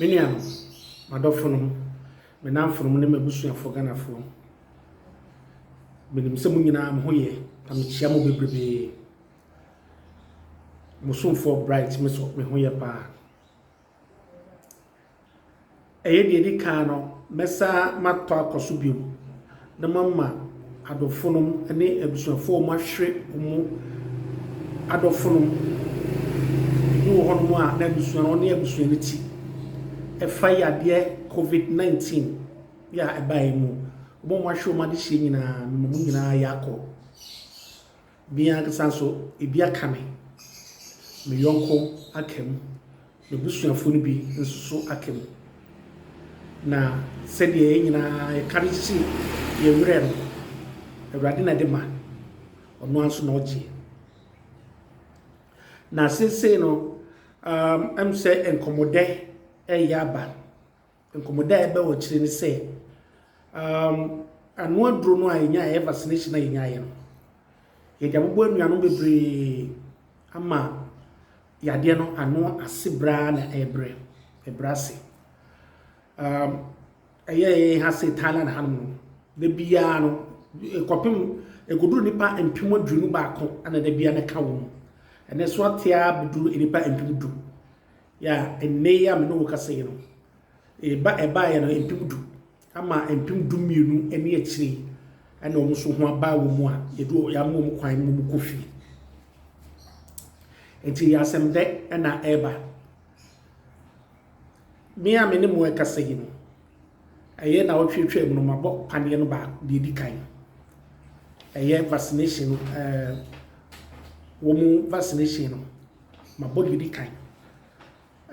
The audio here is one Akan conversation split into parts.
Me nuanom, m'adɔfonom, me nnamfonom ne m'abusuafoɔ Ghanafoɔ, menim sɛ mo nyinaa mo ho yɛ na mekyea mo bebrebee. Mo somfoɔ Bright me so me ho yɛ paa. Ɛyɛ deɛ ɛdi kan no, mɛsan matɔ akɔ so bio na mama adɔfonom ne abusuafoɔ a wɔahwere wɔn adɔfonom, ebi wɔ hɔnom a na abusua no ɔne abusua no ti, ɛfa yadeɛ covid 19 yɛ a ɛbaeɛ mu. Wɔn a wɔahwere wɔn adehyeɛ nyinaa, mema mo nyinaa ayɛ akɔ. Me ankasa nso, ebi aka me, me yɔnko aka mu, m'abusuafo no bi nso so aka mu. Na sɛdeɛ yɛn nyinaa yɛka de kyekye yɛn werɛ no, Awurade na ɛde ma, ɔno ara nso na ɔgye. Na seesei no, um, ɛm sɛ nkɔmmɔdɛ ɛreyɛ aba. Nkɔmmɔdɛ a ɛba wɔ akyire ne sɛ, um, ano aduro no a yɛnya ɛyɛ vaccination a yɛnya yɛ no, yɛde abobɔ anuanom bebree ama yadeɛ no ano ase braa na ɛbrɛ ɛbrɛ ase. Um, ɛyɛ ɛyɛ ha sɛ Thailand hanom no, da biara no, ɛkɔpem ɛkɔduru nipa mpem aduonu baako na da biara no ka wɔ mu. Ɛnɛ so atea bɛduru nipa mpem du. Ya, nnɛ yi a me ne wo kasa yi no, ɛba ɛbaeɛ no mpem du ama mpem du mmienu ne akyire ɛna wɔn nso ho aba wɔn mu a yɛde yɛama wɔn kwan ma wɔn kɔ fie. Nti yɛ asɛm dɛ ɛna ɛreba. Me a me ne mo ɛkasa yi no, ɛyɛ na ɔtwetwe mu no mabɔ paneɛ no baako deɛ di kan ɛyɛ vaccination ɛɛ wɔn vaccination no mabɔ deɛ ɛdi kan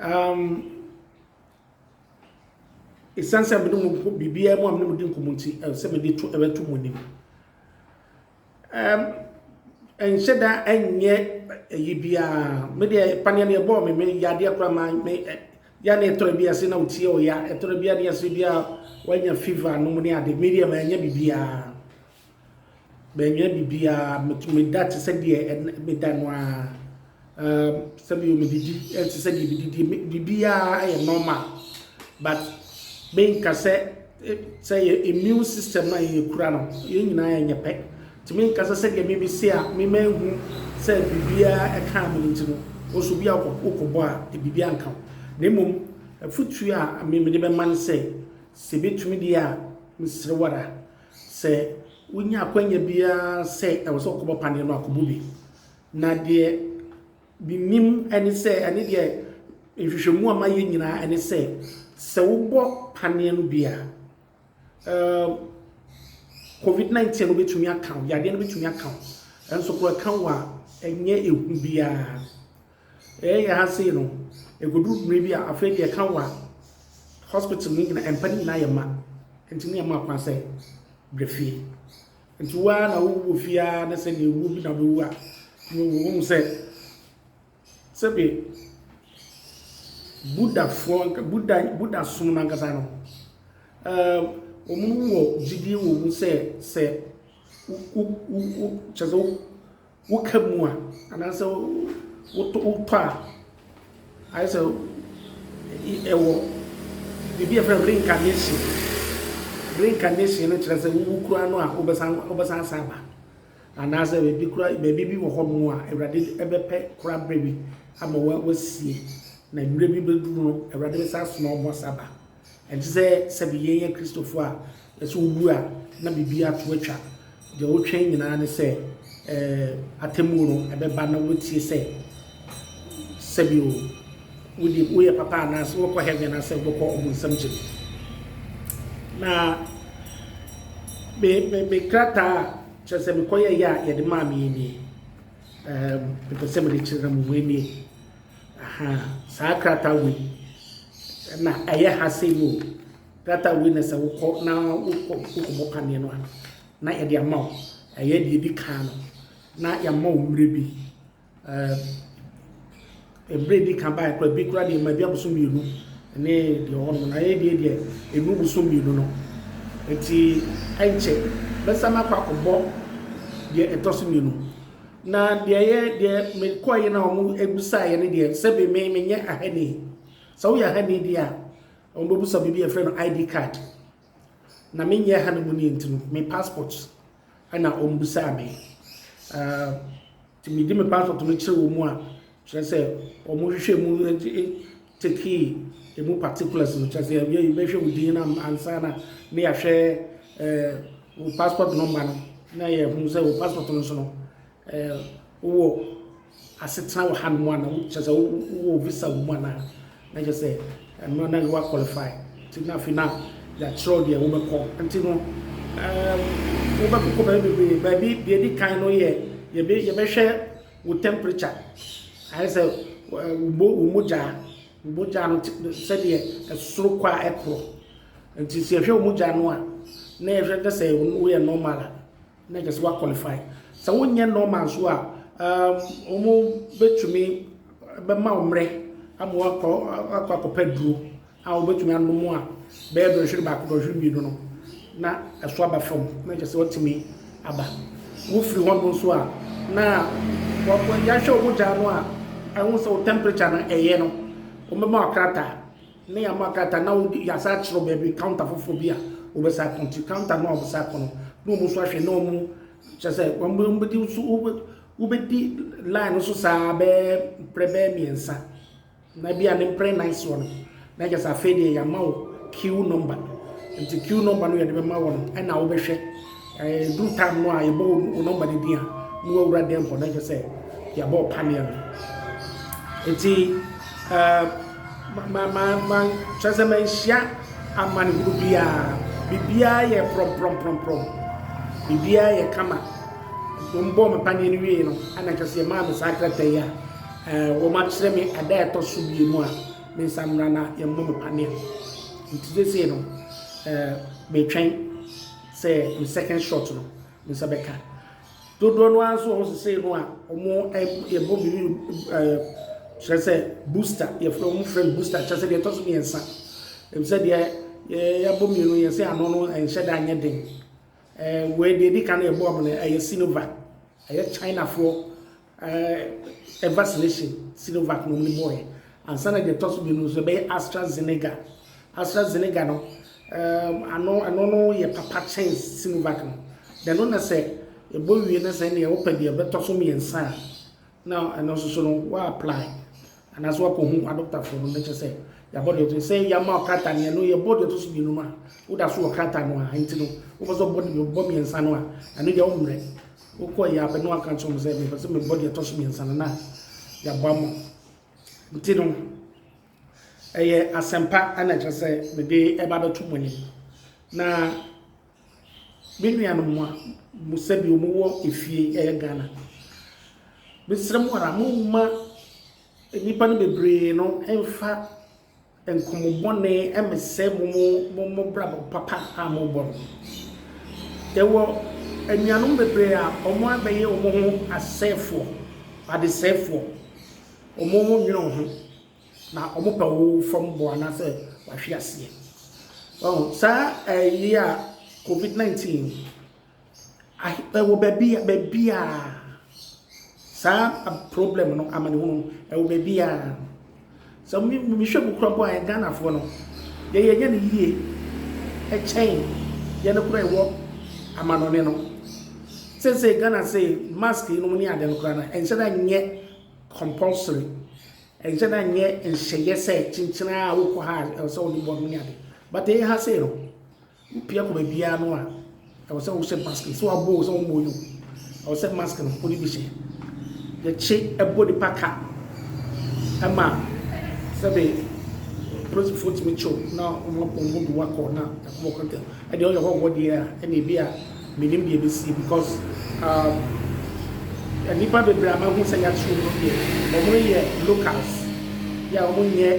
um, ɛsiane sɛ mene mu biribiara mu a mene mu di nkɔmmɔ nti ɛwɔ sɛ mede to ɛbɛto mu anim um, ɛnhyɛ da ɛnyɛ ɛyi biara me deɛ paneɛ no yɛbɔɔ me me yadeɛ koraa ma me ya na ɛtɔrɔ bi ase na wotie ɔya ɛtɔrɔ bi ade ase bi a wanya fever no mu ne ade me deɛ ma ɛnyɛ biribiara Menyɛ biribiara, meda te sɛ deɛ meda no ara. Um, sɛbi o, medidi te sɛ deɛ medidi, biribiara yɛ normal. But menka sɛ sɛ yɛ immune system a yɛkura no, yɛn nyinaa yɛnyɛ pɛ. Nti menka sɛ sɛdeɛ meme se a, mema ehu sɛ biribiara ɛkaa me nti no, ɔso bi a wokɔbɔ a, biribiara nka ho. Na mmom, afutuo a meme de bɛma no sɛ, sɛ bɛtumi deɛ a, meserewara. Sɛ wonya akwanya biara sɛ ɛwɔ sɛ ɔkɔbɔ paneɛ no a, kɔbɔ bi. Na deɛ menim ne sɛ, ɛne deɛ nhwehwɛmu a mayɛ nyinaa ne sɛ, sɛ wobɔ paneɛ no bi a, um, COVID-19 no bɛtumi aka wo, yadeɛ no bɛtumi aka wo. Nanso kora ɛka wo a, ɛnyɛ ehu biara. Yɛyɛ ha sei no, ɛkɔduru berɛ bi a, afei deɛ ɛka wa hospital no nyina, mpa no nyinaa yɛ ma, nti ne yɛma kwan sɛ brɛ fie. Nti wo ara na wowu wɔ fie ara ne sɛ deɛ wuo bi na wobɛwu a, wohu sɛ sɛbe Buddhafoɔ, Buddha, Buddha som no ankasa no, wɔn wɔ gyidie wɔ mu sɛ sɛ wo, wo, wo, kyɛ sɛ wo Woka mu a, anaasɛ wotɔ a, ayɛ sɛ ɛwɔ biribi a yɛfrɛ no reincarnation. Reincarnation no kyerɛ sɛ wowu koraa no a wobɛsan wobɛsan asan aba. Anaasɛ baabi koraa baabi bi wɔ hɔnom a Awurade bɛpɛ koraa berɛ bi ama wasie na mmerɛ bi bɛduru no Awurade bɛsan asoma wɔn asa aba. Ɛnte sɛ sɛbe yen yɛ Kristofo a, na sɛ wowu a na biribiara to atwa. Deɛ wotwɛn nyinaa ne sɛ eh, atemmuo no ɛbɛba na woatie sɛ sɛbe o, wode woyɛ papa anaasɛ wobɛkɔ heaven anaasɛ wobɛkɔ ɔbonsam gyem. Na me, me, me krataa a kyerɛ sɛ mekɔyɛeɛ a yɛde maa me nie. Eh, mepɛ sɛ mede kyerɛ na mo mu nie. Ahaa saa krataa wei na ɛyɛ ha sei no o, krataa wei na sɛ wokɔ na wokɔ wokɔbɔ paneɛ no a, na yɛde ama wo. Ɛyɛ deɛ ɛdi kan no, na yɛama wo mmerɛ bi. Mmerɛ ɛdi kan baeɛ koraa, bi koraa deɛ ma bi abosom mmienu ne deɛ ɔwɔ no, na ɛyɛ deɛ deɛ ɛnu bosom mmienu no. Nti ɛnkyɛ, bɛsan akɔ akɔbɔ deɛ ɛtɔ so mmienu. Na deɛ yɛ deɛ mekɔɔ yɛ na wɔn ebusaa yɛ ne deɛ sɛbi me me nyɛ ahani sɛ woyɛ ahani deɛ a wɔn bɛ busa biribi yɛfrɛ no id card na me nyɛ ahani mu ne nti no me passport ɛna wɔn busaa me ɛɛ ti me di me passport no kyerɛ wɔn mu a Kyerɛ sɛ wɔn hwehwɛ mu take emu particulars no kyerɛ sɛ yɛyɛ bɛhwɛ wo din na ansa na ne yɛahwɛ wo passport number no na yɛhunu sɛ wo passport no so no wowɔ asetena wɔ ha no mu ana kyerɛ sɛ wowɔ visa wɔ mu ana na kyerɛ sɛ ɛno na yɛwa qualify nti na afei na yɛakyerɛw deɛ wobɛkɔ nti no wobɛkokɔ baabi bebree baabi deɛ di kan no yɛ yɛbɛhwɛ Wo temperature, ayɛ sɛ wo mogya, wo mogya no sɛdeɛ ɛsoro kɔ a ɛkorɔ. Nti sɛ yɛhwɛ wo mogya no a, na yɛhwɛ na sɛ woyɛ normal a, na kyerɛ sɛ wa qualify. Sɛ wonyɛ normal nso a, um, wɔn bɛtumi bɛma wo mmerɛ ama wakɔ akɔ akɔpɛ duro. a wobetumi anom a bɛyɛ dɔnhwere baako, dɔnhwere mmienu no, na ɛso aba fam, na kyerɛ sɛ wɔatumi aba. Wofiri hɔnom nso a, na yɛahwɛ wɔn gyaa no a, ɛho sɛ wɔn temperature no ɛyɛ no, wɔbɛma wɔn krataa, na yɛama wɔn krataa na wɔde yɛasa akyerɛ baabi counter foforɔ bi a wɔbɛsa akɔ nti counter no a wɔbɛsa akɔ no, na wɔn nso ahwɛ na wɔn kyerɛ sɛ wɔn wɔbɛdi nso wobɛdi line no so saa bɛɛ mprɛ bɛɛ mmiɛnsa. Na ebia ne mprɛnan soɔ no na kyerɛ sɛ afei deɛ yɛama wo queue number nti queue number no yɛde bɛma wɔ no ɛna wobɛhwɛ ɛduru time no a yɛbɔ wo number no din a na wawura dɛm hɔ na kyerɛ sɛ yɛabɔ wo paneɛ no nti kyerɛ sɛ manhyia amanehunu biara biribiara yɛ prɔmprɔmprɔmprɔm biribiara yɛ kama mbɔɔ me paneɛ no wie no ɛna kyerɛ sɛ yɛmaa me saa krataa yi a Ɛɛ, wɔakyerɛ me ɛda a ɛtɔ so mmienu a mensan mmra na yɛmmɔ me panneɛ no. Nti seesei no, ɛɛ, metwɛn sɛ me second shot no, me nsa bɛka. Dodoɔ no ara nso wɔ hɔ seesei no a, wɔyɛbɔ biribi, ɛɛ, kyerɛ sɛ booster, yɛfrɛ, wɔfrɛ no booster, kyerɛ sɛ deɛ ɛtɔ so mmiɛnsa. Efisɛ deɛ yɛabɔ mmienu no, yɛsɛ ano no nhyɛ da nyɛ den. Ɛɛ, wei deɛ ɛdi kan a yɛbɔɔ me no, ɛyɛ Sinovac, ɛyɛ Chinafoɔ. ɛɛ vaccination Sinovac nom no bɔɔɛ ansa na deɛ ɛtɔ so mmienu no nso ɛbɛyɛ Astra Zenega. Astra Zenega no ɛɛm ano ɛno no yɛ papa kyɛn Sinovac no. Deɛ ɛno na sɛ ɛbɔ wie na sɛ ɛneɛ wopɛ deɛ ɛbɛtɔ so mmiɛnsa a na ɛno nso so no wa apply. Anaasɛ woakɔhu adɔkotafoɔ no na ɛkyerɛ sɛ yɛabɔ deɛ ɔto sɛ yɛama wo krataa no ɛno yɛbɔ deɛ ɔto so mmienu ma woda so wɔ krataa no a nti no wopɛ sɛ ɔbɔ deɛ ɔbɔ mmiɛnsa no a ɛno deɛ wommerɛ wokɔ yɛ apɛ no waka nkyerɛ mu sɛ mepɛ sɛ mebɔ deɛ ɔtɔ so mmiɛnsa no na yɛabɔ ama nti no ɛyɛ asɛmpa ɛna ɛkyerɛ sɛ mede ɛba bɛto mu ani na Me nuanom mo a mo sɛdeɛ mo wɔ efie ɛyɛ Ghana mesrɛ mo ara mo mma nnipa no bebree no mfa nkɔmɔ bɔne ɛmesɛ mo mo mo mo brabɔ papa a mo bɔ no ɛwɔ anuanom bebree a wɔn abɛyɛ wɔn ho asɛefoɔ adesɛefoɔ wɔn ho nwene wɔn ho. Na wɔpɛ wo fam bɔ anaasɛ wahwe aseɛ. Ɔho, saa ɛyi a COVID-19 ɛwɔ baabi a baabi a saa problem no amanehunu ɛwɔ baabi a sɛ mehwɛ mu kura mpo a Ghanafoɔ no yɛ yɛnyɛ no yie ɛkyɛn yɛ no kura ɛwɔ amanɔne no sɛ sɛ Ghana sɛ mask yi no ne ade no kura no ɛnhyɛ da nyɛ compulsory Ɛnkyɛ na nyɛ nhyɛyɛ sɛ kyenkyen ara wokɔ ha a ɛwɔ sɛ wode bɔɔd mu ne ade. But ɛyɛ ha sei no, wopia kɔ baabiara no a, ɛwɔ sɛ wohyɛ mask no. Sɛ wɔabɔ o sɛ wɔmmɔ o no, ɛwɔ sɛ mask no wode bi hyɛ. Yɛkye ɛbɔ nipa ka ma sɛbe polisifoɔ tumi kye wo na wɔn de wo akɔ na ɛkɔbɔ kɔntɛm. Ɛdeɛ ɔyɛ hɔ wɔ deɛ a, ɛnna ebi a Menim deɛ ɛbɛsie because umm nnipa bebree a mahu sɛ yɛakyere wɔn deɛ wɔn yɛ locals yeah wɔn nyɛ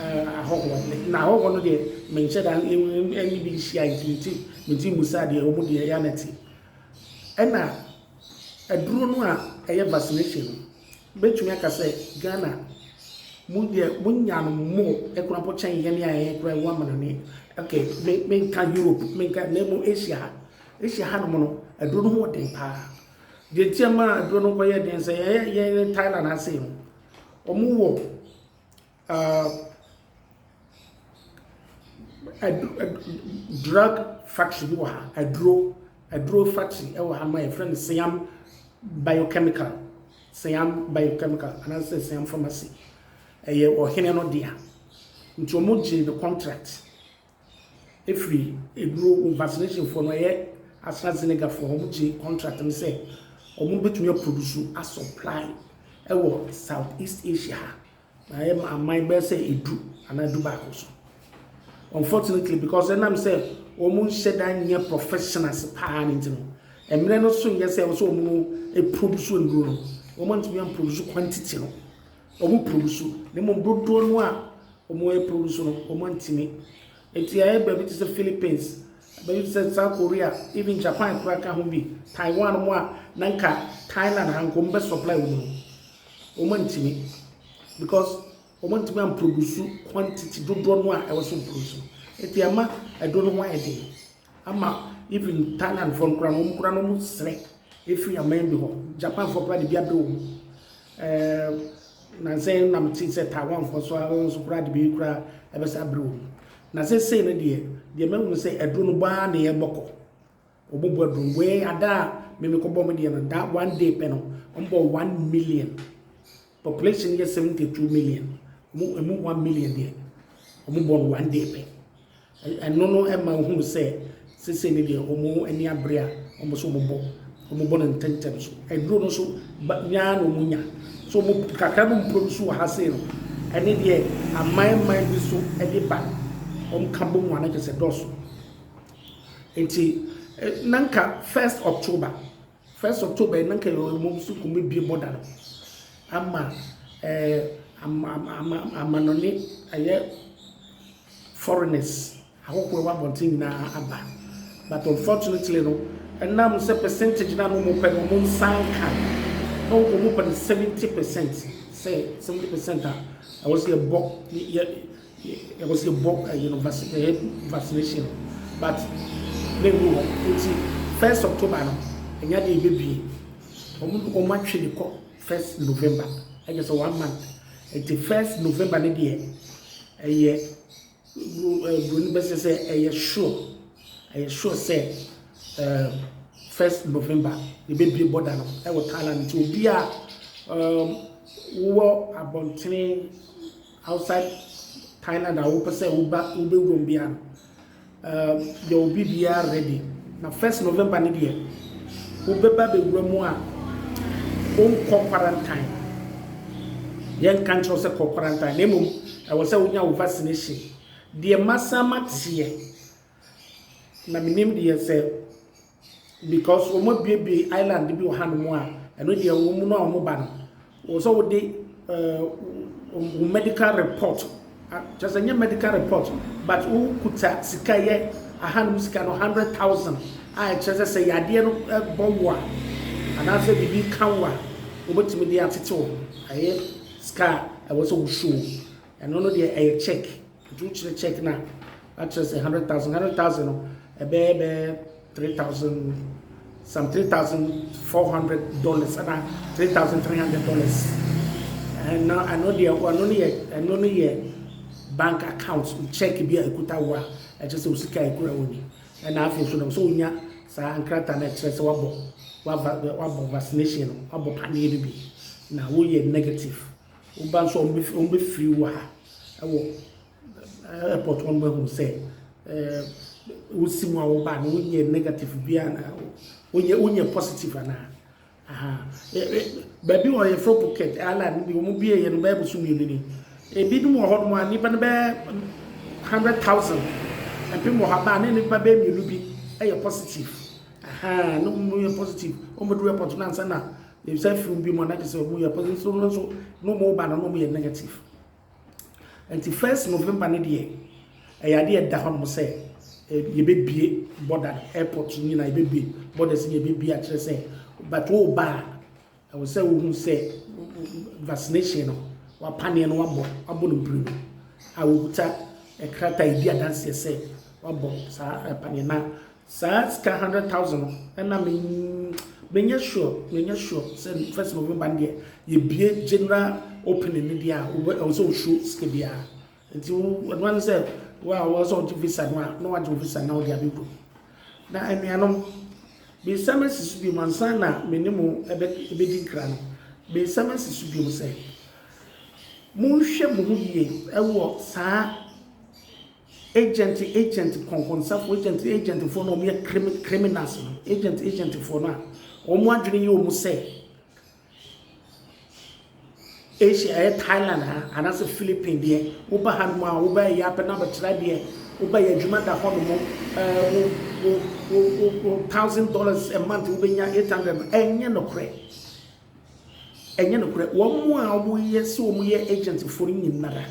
eh ahɔhoɔ de na ahɔhoɔ no deɛ menkyɛ da ɛne bi nhyia nti nti menti mmusa deɛ wɔn deɛ ɛyɛ a na ɛte ɛna aduro no a ɛyɛ vaccination no Mɛtumi aka sɛ Ghana mo deɛ mo nya no more ɛkora mpo kyɛn yɛn a yɛn kora ɛwɔ amanane ok me me nka Europe me nka na ɛmu Asia ha Asia ha no mo no aduro no ho wɔ den paa deɛ nti ɛma aduro no nkɔ yɛ den sɛ yɛn yɛn Thailand ase no wɔn wɔ Drug factory bi wɔ ha, aduro aduro factory wɔ ha ma yɛfrɛ no Siam biochemical, Siam biochemical anaasɛ Siam pharmacy. Ɛyɛ ɔhene no dea, nti wɔgyee no contract. Ɛfiri aduro vaccination foɔ no ɛyɛ AstraZeneca foɔ wɔn gye contract no sɛ wɔn bɛtumi a produce a supply ɛwɔ South East Asia ha na ɛyɛ aman bɛyɛ sɛ edu anaa edu baako so unfortunately because ɛnam sɛ wɔn nhyɛ da nyɛ professionals paa ne nti no mmerɛ no so nyɛ sɛ wɔn so wɔn produce aduro no wɔn ntumi a produce quantity no. Wɔn produce na mmom dodoɔ no a wɔn produce no wɔn ntumi nti ayɛ baabi te sɛ Philippines baabi te sɛ South Korea even Japan koraa ka ho bi Taiwan mu a na nka Thailand ha nka wɔn bɛ supply wɔn no wɔn ntumi because wɔn ntumi am produce quantity dodoɔ no a ɛwɔ so produce nti ɛma ɛdo no ho ayɛ den ama even Thailand fɔ no koraa no wɔn koraa no wɔn srɛ efiri aman bi hɔ Japan fɔ koraa de bi abɛ wɔn ɛɛ na sɛ na mo te sɛ Taiwan fɔ so ara nso koraa de bi koraa ɛbɛsɛ abere wɔn na sɛ sɛ no deɛ deɛ mɛ wɔn sɛ aduro no baa na yɛ bɔkɔ wɔn bɔ aduro wɛɛ adaa mɛmɛ kɔ bɔ mo deɛ no da one day pɛ no wɔn bɔ one million Population no yɛ seventy two million, ɔmo emu one million deɛ ɔmo bɔ no one day pɛ. Ɛno no ɛma ohunu sɛ sese ne deɛ ɔmo ani abere a ɔmo so ɔmo bɔ ɔmo bɔ no ntɛntɛm so. Aduro no so ba nyaa na ɔmo nya so ɔmo kakra no mpuro no so wɔ ha sei no ɛne deɛ aman man bi so ɛde ba ɔmo ka bɔ mu ano kyɛ sɛ dɔɔso nti nanka first October. First October yi na nka yɛwɔ mmom sukuu mu abiebɔ da no ama ɛɛ ama ama ama amanɔne ɛyɛ foreigners ahɔhoɔ ɛwɔ abɔnten nyinaa aba but unfortunately no ɛnam sɛ percentage na no wɔn pɛ no wɔn nsa nka na wɔn pɛ no seventy percent sɛ seventy percent a ɛwɔ sɛ yɛbɔ yɛ Yɛpɛ sɛ yɛbɔ ɛyi no vaccine ɛyɛ vaccination no but na ɛnu hɔ nti first October no ɛnyɛ adeɛ yɛbɛbie wɔn wɔn atwe de kɔ first November ɛkyɛ sɛ one month nti first November no deɛ ɛyɛ buroni bɛsɛ sɛ ɛyɛ sure ɛyɛ sure sɛ ɛɛ first November yɛbɛbie border no ɛwɔ Thailand nti obi a ɛɛ wowɔ abɔntene. outside Thailand a wopɛ sɛ woba wobɛwuram biara no eh, yɛ obi biara ready na first November no deɛ wobɛba bɛwura mu a wonkɔ quarantine yɛnka nkyerɛ sɛ kɔ quarantine na mmom ɛwɔ sɛ wonya wo vaccination deɛ masa mateɛ na menim deɛ sɛ Because wɔn abuebue island bi wɔ ha nom a ɛno deɛ wɔn mu no a wɔn ba no wɔn sɛ wɔde ɛɛ wɔn medical report kyɛ sɛ nyɛ medical report but wɔn kuta sika yɛ aha nom sika no hundred thousand a ɛkyerɛ sɛ sɛ yadeɛ no ɛbɔ wo a anaasɛ biribi ka wo a wɔbɛtumi de atete wɔn ɛyɛ sika a ɛwɔ sɛ wɔsuo. Ɛno no deɛ ɛyɛ check nti wokyerɛ check na akyerɛ sɛ hundred thousand hundred thousand no ɛbɛyɛ bɛyɛ three thousand some three thousand four hundred dollars ɛna three thousand three hundred dollars ɛna ɛno deɛ ɛno no yɛ ɛno no yɛ bank account check bi a ekuta wo a ɛkyɛ sɛ osika ekura wo ni ɛna afei nso na so onya saa nkrataa na ɛkyerɛ sɛ wabɔ wabɔ vaccination no wabɔ paneɛ no bi na woyɛ negative. Woba nso a, wɔbɛfiri wɔ ha wɔ airport hɔ no bɛhu sɛ wo sim a woba no wonyɛ negative bi anaa wonyɛ wonyɛ positive anaa. Baabi wɔ yɛfrɛ Phuket airline bi wɔn bie yɛ no bɛyɛ boso mmienu ni. Ebinom wɔ hɔ nom a nnipa no bɛyɛ hundred thousand ɛpem wɔ ha baa ne nnipa bɛyɛ mmienu bi yɛ positive. Aha, ne wɔn yɛ positive wɔn bɛduru airport no ansa na Ebisa firi obi mu na kyerɛ sɛ ɔmu yɛ positive so no nso na ɔmu ba no na ɔmu yɛ negative nti first November ne deɛ ɛyɛ adeɛ ɛda hɔ nom sɛ yɛbɛbie border airport nyinaa yɛbɛbie borders ne yɛbɛbie akyerɛ sɛ but wo ba a ɛwɔ sɛ wohu sɛ vaccination no wapaneɛ no wabɔ abɔ no mpiri no a wokuta ɛkrata ɛdi adanseɛ sɛ wabɔ saa ɛpaneɛ na Saa sika hundred thousand no ɛna me me nyɛ sure me nyɛ sure sɛ first November no deɛ yɛ bie general opening no deɛ a wobɛ ɛwɔ sɛ wosuo sika biara nti wo ɛno ano sɛ wo a wɔn sɛ ɔgye visa no a na wagye visa na ɔde abɛkɔ na anuanom mesa ma si so bi mu ansa na me ne mo ɛbɛ ɛbɛdi nkira no mesa ma si so bi mu sɛ monhwɛ mo ho yie ɛwɔ saa. Agent agent kɔnkɔnsafo agent agent foɔ no a wɔn yɛ krim criminals no agent agent foɔ no a wɔn adwene yɛ wɔn sɛ Asia ɛyɛ Thailand ha anaasɛ Philippines deɛ woba ha nom a wobɛ yɛ abɛn abɛtra deɛ woba yɛ adwuma da hɔ nom ɛɛ wo wo wo wo wo thousand dollars a month wobɛnya eight hundred no ɛnyɛ nokorɛ ɛnyɛ nokorɛ wɔn a wɔyɛ sɛ wɔn yɛ agent foɔ no nyinara.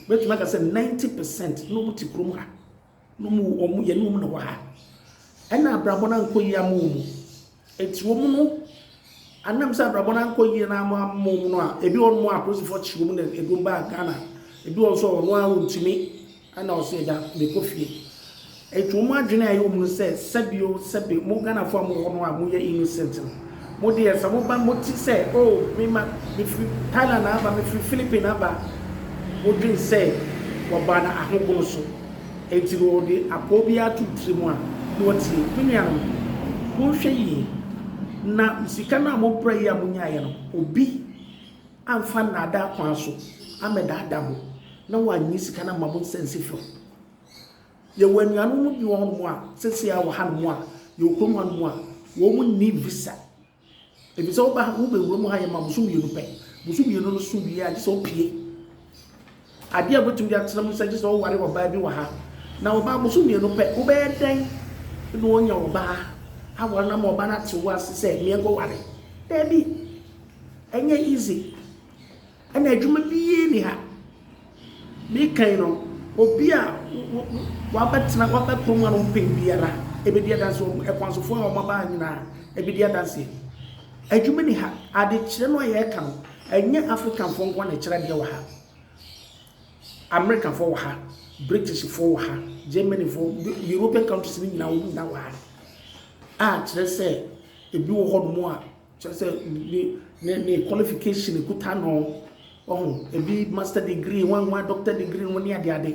Mɛtumi aka sɛ ninety percent na wɔn te kurom ha, na wɔn wɔn yɛne wɔn na wɔ ha. Ɛna abrabɔ no ankɔ yie ama wɔn. Eti wɔn no, anam sɛ abrabɔ no ankɔ yie na ama ama wɔn no a, ebi wɔ wɔn a apolisifoɔ kyi wɔn na ɛdum baa Ghana. Ebi wɔ nso a ɔno ara ɔntumi, ɛna ɔsɛ ɛda mekɔ fie. Enti wɔn adwene a ɛyɛ wɔn no sɛ sɛbio sɛbe mo Ghanafoɔ a mowɔ hɔ no a moyɛ innocent no mo deɛ sɛ moba mote sɛ oh me ma mefiri Thailand aba mefiri Philippine aba wodwene sɛ wɔbaa no ahogono so enti na wɔde apɔɔ biara ato wo tiri mu a na watie me nuanom monhwɛ yie na sika no a mobrɛ yi a monyaeɛ no obi amfa nnaadaa kwan so amɛdaadaa mo na wannye sika no amma mo nsa ansi fam. Yɛwɔ anuanom bi wɔ hɔnom a, seesei a wɔ hanom a, yɛwɔ kurom hanom a, wɔn nni visa. Efisɛ woba ha, wobɛwura mu ha yɛ ma boso mmienu pɛ. Boso mmienu no so wie a, gye sɛ wopue. Adeɛ a wobɛtumi de atena mu sɛ gye sɛ woware ɔbaa bi wɔ ha. Na ɔbaa boso mmienu pɛ, wobɛyɛ dɛn na woanya ɔbaa aware no ama ɔbaa no ate wo ase sɛ meɛnkɔware? Daabi. Ɛnyɛ easy. Ɛna adwuma biara nni ha. Meka yi no, obi a wabɛtena, wabɛkɔ mu anɔpɛ biara ɛbɛdi adanseɛ, akwansofoɔ a wɔaba ha nyinaa ɛbɛdi adanseɛ. Adwuma nni ha. Adekyerɛ no a yɛreka no, ɛnyɛ Africanfoɔ nko ara na ɛkyerɛ adeɛ wɔ ha. Americafoɔ wɔ ha, Britishfoɔ wɔ ha, Germanyfoɔ, European countries no nyinaa wɔn nyinaa wɔ ha. A kyerɛ sɛ, ebi wɔ hɔnom a. Kyerɛ sɛ ne ne ne qualification ekuta no ɔho ebi master degree wɔn wɔn doctor degree wɔn ne ade ade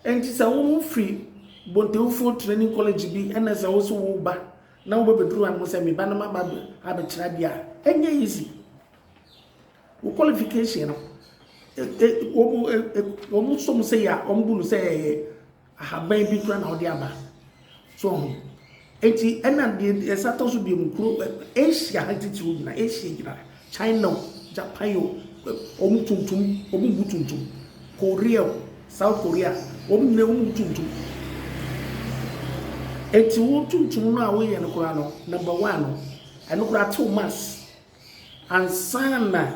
ɛnti sɛ wɔn firi bontewufoɔ training college bi ɛna sɛ wɔn so wɔn ba na wɔn bɛbɛduru ano sɛ mi ba no ma ba abɛkyerɛ ade a ɛnyɛ easy wɔ qualification no wɔn wɔn sɔ mo sɛ yɛ a wɔn bu no sɛ ɛyɛ. Ahaban bi koraa na ɔde aba. So ɔho? Enti ɛna deɛ ɛsa tɔ so biom kuro Asia ha titiriw nyina Asia nyina China o Japan o wɔn tuntum wɔn bu tuntum Korea o South Korea wɔn nyina wɔn bu tuntum Enti wo tuntum no a woyɛ no koraa no number one no ɛno koraa tew mass. Ansa na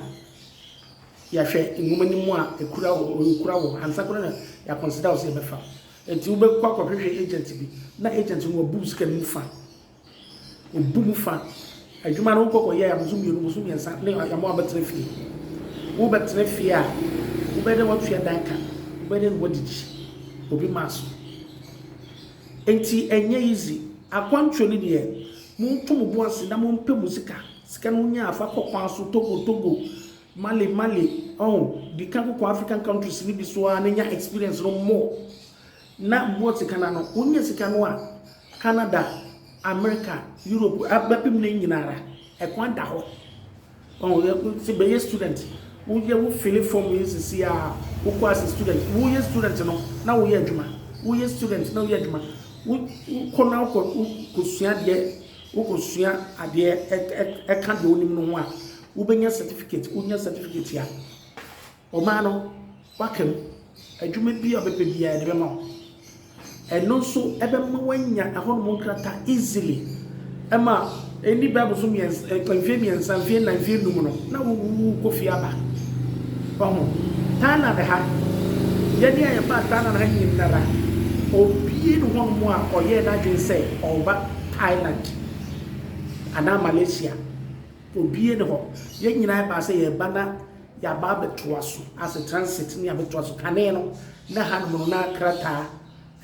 yɛahwɛ nwoma no mu a ekura wo, enkura wo, ansa koraa na yɛakɔnseda wo sɛ yɛbɛfa. Enti wobɛkɔ akɔhwehwɛ agent bi, na agent no wabu wo sika no mu fã. Obu mu fã. Adwuma no wokɔ kɔyɛe a, bosom mmienu, bosom mmiɛnsa ne yɛ ama woabɛtena fie. Wobɛtena fie a, wobɛyɛ dɛ woatua dan ka, wobɛyɛ dɛ woadidi obi maa so. Enti ɛnyɛ easy. Akwantuo no deɛ, Monto mo bo ase na mompɛ mo sika. Sika no wonyaa fa kɔ kwan so, Togo, Togo, Mali, Mali, oh, di kan kɔkɔ African countries no bi so ara na nya experience no more na boa sika no ano. Wonya sika no a, Canada, America, Europe, bɛpem no nyina ara, ɛkwan da hɔ. Ɔn yɛ nti bɛ yɛ student wo yɛ wo fili fɔm yi sisi a wo kɔ ase student wo yɛ student no na wo yɛ adwuma wo yɛ student na wo yɛ adwuma wo kɔ na wo kɔ sua deɛ wo kɔ sua adeɛ ɛka deɛ wo nim no ho a wo bɛ nya certificate wo nya certificate a. Ɔbaa no, woaka mu. Adwuma biara a wobɛpɛ biara, yɛde bɛma wo. Ɛno nso bɛma woanya ɛhɔnom nkrataa easily. Ɛma ɛnni Bible so mmiɛnsa, mfeɛ mmiɛnsa, mfeɛ nnan, mfeɛ nnum no, na wowu kɔ fie aba. Wahu? Thailand ha, yɛne a yɛbaa Thailand ha nyinara, obie ne hɔnom a ɔyɛɛ n'adwene sɛ ɔba Thailand anaa Malaysia. Obie ne hɔ. Yɛn nyinaa yɛbaa sɛ yɛba na Yɛaba abɛtoa so asɛ transit ne abɛtoa so kane no na hanom no na krataa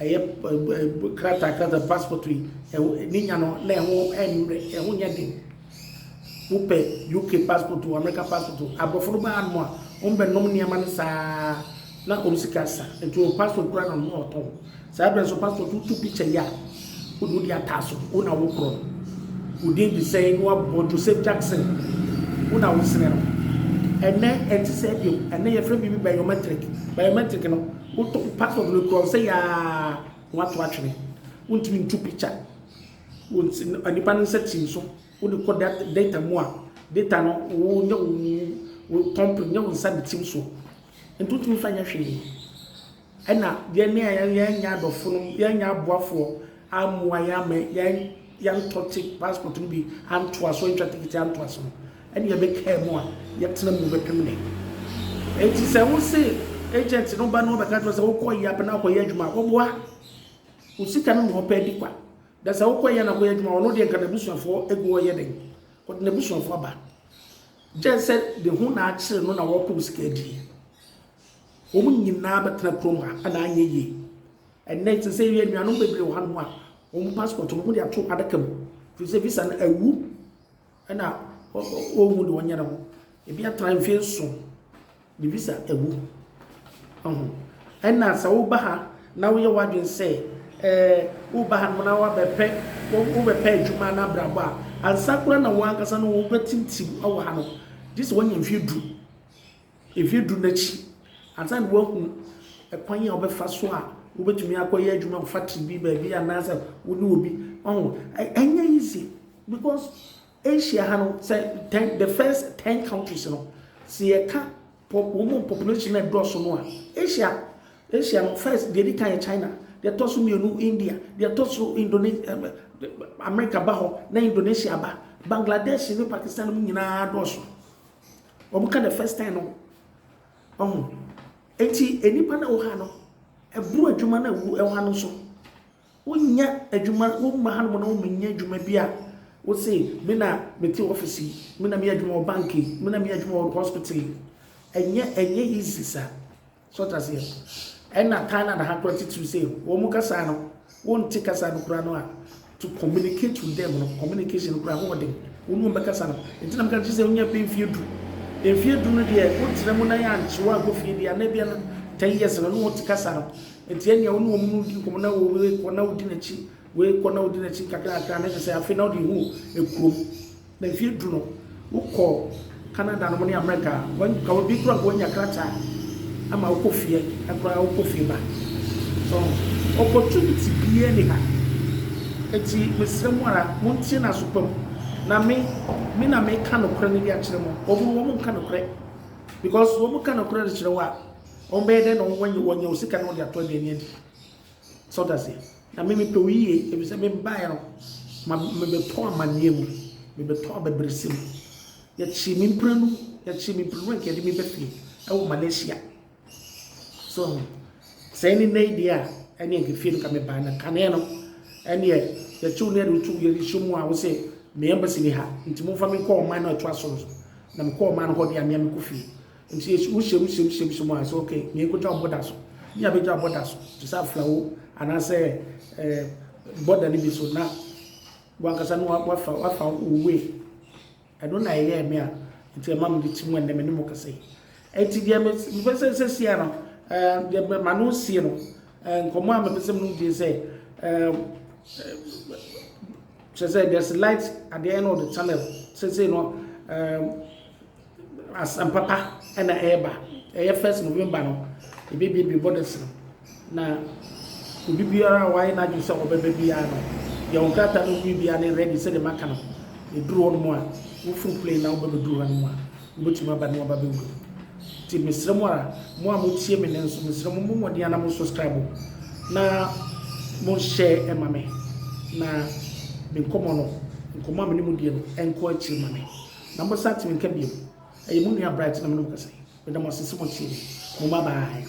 ɛyɛ krataa krataa passport yi ɛwɔ ne nya no na ɛho ɛmmerɛ ɛho nyɛ den wopɛ UK passport o America passport o aborɔfo no baa nom a wɔn bɛ nom nneɛma no saa Na wɔn sika sa, nti wɔn passport koraa na wɔn retɔn. Saa berɛ nso passport wotu picture yi a, wode wode ataa so, wo na wokorɔ no. Wo din de sɛn na wabobɔ Joseph Jackson, wo na wosene no. Ɛnnɛ ɛnte saa bio, ɛnnɛ yɛfrɛ biribi biometric. Biometric no, wotɔ passport no kura wo sɛ yaa na wato atwene. Wontumi ntu picture wo nipa no nsa tim so, wode kɔ data mu a, data no wo nyɛ wo company, nyɛ wo nsa ne tim soɔ. Nto nto mfa nyɛ hwee. Ɛna yɛn ne yɛn yɛn nyɛ adɔfo nom, yɛn nyɛ aboafoɔ ammoa yɛn ama yɛn yɛntɔ te passport no bi antoa so, antwa ticket antoa so no, ɛne yɛbɛkaa mu a yɛtena mu bɛpem nnɛ. Enti sɛ wo se agent no ba na ɔbɛka kyerɛ wo sɛ wokɔ yɛ apɛ na akɔyɛ adwuma a, wɔboa wo sika no ma ɔpɛ adi kwa. Da sɛ wokɔ yɛ na akɔyɛ adwuma a, ɔno deɛ nka n'abusuafoɔ gu hɔ yɛ dɛn? Ɔde n'abusuafoɔ aba. Gyɛ sɛ de ho na akyere no na wɔrepow sika adie. Wɔn nyinaa bɛtena kurom ha na anyɛ yie. Ɛnnɛ te sɛ yɛ nuanom bebree wɔ hanom a wɔn passport no wɔde ato adaka mu. Firi sɛ visa no awu ɛna wɔhu de wɔnyɛ ne ho. Ebi atena mfeɛ nson. Me visa awu. Wahu? Ɛna sɛ woba ha na woyɛ w'adwene sɛ ɛɛ woba ha nom na wabɛpɛ wobɛpɛ adwuma na abrabɔ a ansa koraa na wɔn ankasa no wɔbɛtintim wɔ ha no gye sɛ wɔanya mfeɛ du mfeɛ du n'akyi ansa na wɔahu ɛkwan a wɔbɛfa so a wobɛtumi akɔyɛ adwuma wɔ factory bi baabi anaasɛ wo ne obi ɔho ɛnyɛ easy because Asia ha no sɛ ten the first ten countries no sɛ yɛka pɔ wɔn mu population na ɛdɔɔso no a Asia Asia no first deɛ ɛdi kan yɛ China deɛ ɛtɔ so mmienu India deɛ ɛtɔ so Indonesia America ba hɔ na Indonesia ba Bangladesh ne Pakistan mu nyinaa dɔɔso wɔn ka the first ten no ɔho eti nnipa na ɛwɔ ha no ɛboro adwuma na ɛwɔ ha no nso Wonyɛ adwuma, womma hanom na wommenyɛ adwuma bi a wose, Me na mete office yi, me na meyɛ adwuma wɔ bank yi, me na meyɛ adwuma wɔ hospital yi. Ɛnyɛ, ɛnyɛ easy saa. So ate aseɛ? Ɛna Thailand ha koraa titiriw sɛ wɔn kasa no, wonte kasa no koraa no a, to communicate with them no, communication no koraa ho wɔ den. Wo ne wɔn bɛkasa no. Nti na meka kyerɛ sɛ wonya bɛyɛ mfeɛ du. Mfeɛ du no deɛ, wotra mu na yɛankye wo ankɔ fie deɛ a, na ebia no ten years no, wo ne wɔn te kasa no. Enti ɛnneɛ wo ne wɔn no di nkɔmmɔ na wo rekɔ na wodi n'akyi, worekɔ na wodi n'akyi nkakrankakra na kyerɛ sɛ afei na wode hu ekurom. Na mfeɛ du no, wokɔ Canada nom ne Amerika a, nka ebi koraa nka wanya krataa ama wokɔ fie koraa wokɔ fie ba. So opportunity biara ni ha. Enti mesrɛ mo ara montie no aso pa mu. Na me, me na meka nokorɛ no de akyerɛ mo. Wɔn no wɔn nka nokorɛ because wɔn ka nokorɛ de kyerɛ wo a, Wɔbɛyɛ dɛn na wɔanya wɔanya wo sika na wɔde ato aduane adi? Sɛ ɔda aseɛ. Na me mepɛ wo yie, ebi sɛ mebaeɛ no, ma mebɛtɔ amanneɛ mu, mebɛtɔ abɛbrɛsɛ mu. Yɛkyee me mprenu, yɛkyee me mprenu a nka yɛde me bɛ fie ɛwɔ Malaysia. So, sɛ ɛne nnɛ yi deɛ a, ɛne nka fie no ka mebaa na kaneɛ no, ɛneɛ yɛkyew ne yɛde wo to yɛde hyɛ mu a wo sɛ me embassy ni ha, nti momfa me nkɔ ɔman no ɛtoa so no so. Na mekɔ ɔman no hɔ deɛ a, mea mekɔ fie. Enti Yesu, wo hyɛm hyɛm hyɛm hyɛm a sɛ ok nea ekotwa ɔbɔ da so ne nea betwa ɔbɔ da so te sɛ aflawo anaasɛ ɛɛ bɔda no bi so na wankasa no wafa wafa wo way ɛno na ɛyɛ me a nti ɛma me de ti mu ɛnɛ me ne mo kasa yi ɛti deɛ me mepɛ sɛ sɛ sia no ɛɛ deɛ ma no sie no ɛɛ nkɔmɔ a mepɛ sɛ mo die sɛ ɛɛ kyerɛ sɛ there's light at the end of the tunnel sɛ sɛ no ɛɛ. Asɛm papa na ɛreba. Ɛyɛ first November no, yɛbɛbuebue borders no, na obi biara a wayɛ n'adwene sɛ ɔbɛba biara no, yɛwɔ nkrataa no wie biara ne ready sɛdeɛ maka no. Yɛduru hɔ no mu a, woforo plane na wobɛbɛduru ha no mu a, wobɛtumi aba ne waba bɛwura mu. Nti mesrɛ mo ara, mo a motie me nnɛ nso, mesrɛ mo, mommɔ mmɔden ara na mo subscribe na mo share ma me, na me nkɔmmɔ no, nkɔmmɔ a me ne mo die no, ɛnkɔ akyiri ma me. Na mo nsa atene nka bio. Ɛyɛ mo nua Bright na me ne wo kasa yi. Meda mo ase sɛ mo tie me. Mo mmabaayaa.